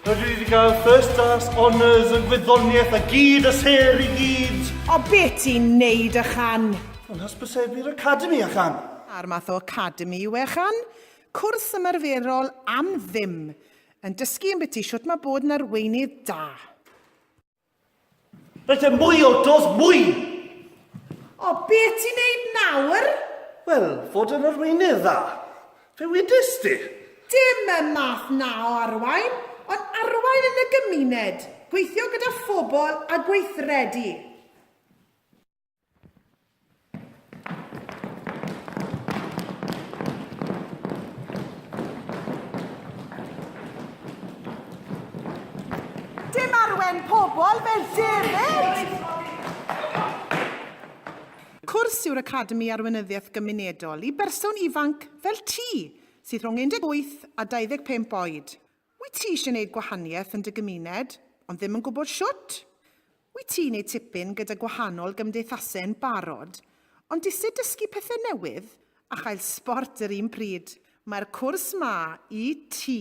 Rydw i wedi cael first class honours yn gwyddoniaeth a gyd a ser i gyd. O beth ti'n neud a chan? Yn hysbysebu'r academi a chan. A'r math o academi yw e chan? Cwrs ymarferol am ddim. Yn dysgu yn biti shwt mae bod yn arweinydd da. Rhaid e mwy o dos mwy! O, be ti'n neud nawr? Wel, fod yn arweinydd dda. Fe wedys di. Dim y math na o arwain, ond arwain yn y gymuned, gweithio gyda phobl a gweithredu. Dim arwen pobl fel David! Cwrs yw'r Academi Arweinyddiaeth Gymunedol i berson ifanc fel ti, sydd rhwng 18 a 25 oed. Wyt ti eisiau gwneud gwahaniaeth yn dy gymuned, ond ddim yn gwybod shwt? Wyt ti neu tipyn gyda gwahanol gymdeithasau yn barod, ond dised dysgu pethau newydd a chael sbort yr un pryd? Mae'r cwrs 'ma i ti!